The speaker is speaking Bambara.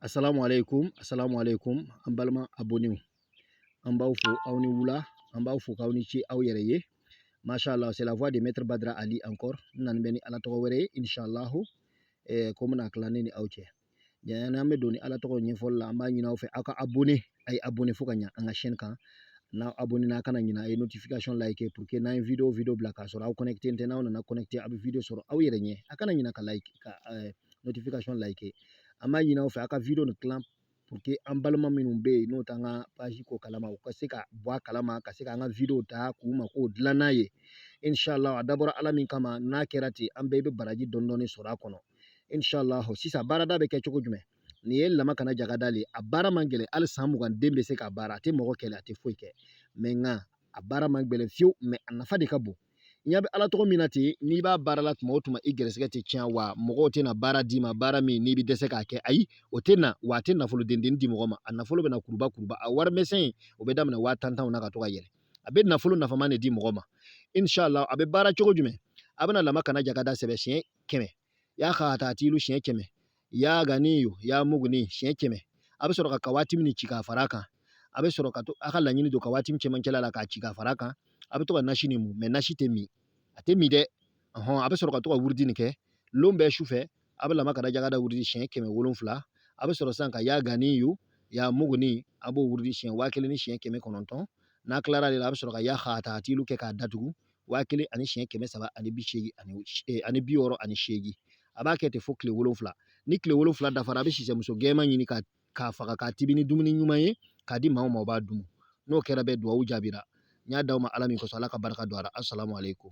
asalamu aleykum asalamu aleykum an balima abonnew an b'aw fo aw ni wula an b'aw fo k'aw ni ce aw yɛrɛ ye masha allah c'est la voix de maître badra ali encore n nani bɛ ni ala tɔgɔ wɛrɛ ye inchallahu eh, ko n bɛna tila ne ni aw cɛ yani an bɛ don ni ala tɔgɔ ɲɛfɔli la an b'a ɲini aw fɛ aw ka abonné a ye abonné fo ka ɲa an ka chaîne kan n'aw abonné na kana ɲina a ye notification like pour que n'an ye video video bila k'a sɔrɔ aw connecté tɛ n'aw nana connecté a bɛ video sɔrɔ aw yɛrɛ ɲɛ a kana ɲina ka like ka eh, notification like an b'a ɲini aw fɛ aw ka video nin tilan pour que an balima minnu bɛ yen n'o t'an ka page ko kalama u ka se ka bɔ a kalama ka se k'an ka video ta k'u mako dilan n'a ye inshallah a dabɔra ala min kama n'a kɛra ten an bɛɛ bɛ baraji dɔɔni dɔɔni sɔrɔ a kɔnɔ inshallah sisan baarada bɛ kɛ cogo jumɛn nin ye lama kana jagada le a baara man gɛlɛn hali san mugan den bɛ se k'a baara a tɛ mɔgɔ kɛlɛ a tɛ foyi kɛ mais nka a baara man gɛlɛn fiyewu mais a nafa de ka bon n ɲɛ bɛ ala tɔgɔ min na ten n'i b'a baara la tuma o tuma i gɛrɛsɛgɛ tɛ tiɲɛ wa mɔgɔw tɛna baara d'i ma baara min n'i bɛ dɛsɛ k'a kɛ ayi o tɛ na wa a tɛ nafolo dennin di mɔgɔ ma a nafolo bɛ na kuruba kuruba a wari misɛn o bɛ daminɛ waa tan tanw na ka to ka yɛlɛ a bɛ nafolo nafama de di mɔgɔ ma inshallah a bɛ baara cogo jumɛn a bɛna lama kana jagada sɛbɛ siɲɛ kɛmɛ ya khatatilu siɲɛ kɛmɛ ya ganiyu ya muguni siɲɛ kɛmɛ a bɛ sɔrɔ ka kawaatimu ci ka fara kan a bɛ sɔrɔ ka to a ka laɲini don kawaatimu cɛmancɛla la k'a ci ka fara kan a bɛ to ka nasi nin mun mais nasi tɛ min a tɛ min dɛ ɔhɔn a bɛ sɔrɔ ka to ka wurudi nin kɛ lon bɛɛ su fɛ a bɛ lama kana jagada wurudi siɲɛ kɛmɛ wolonfila a bɛ sɔrɔ sisan ka ya ganiyu ya muguni a b'o wurudi siɲɛ waa kelen ni siɲɛ kɛmɛ kɔnɔntɔn n'a tilara de la a bɛ sɔrɔ ka ya khatatilu kɛ k'a datugu waa kelen ani siɲɛ kɛmɛ saba ani bi seegin ani eh, ani bi wɔɔrɔ ani seegin a b'a kɛ ten fo tile wolonfila ni tile wolonfila dafara a bɛ sisɛmuso gɛman ɲini k'a faga k'a tibi ni dumuni ɲuman ye k'a di maaw ma o b'a dun n'o kɛra bɛɛ duwawu jaabira n y'a d'aw ma ala min kosɔn ala ka barika don a la asalamu aleykum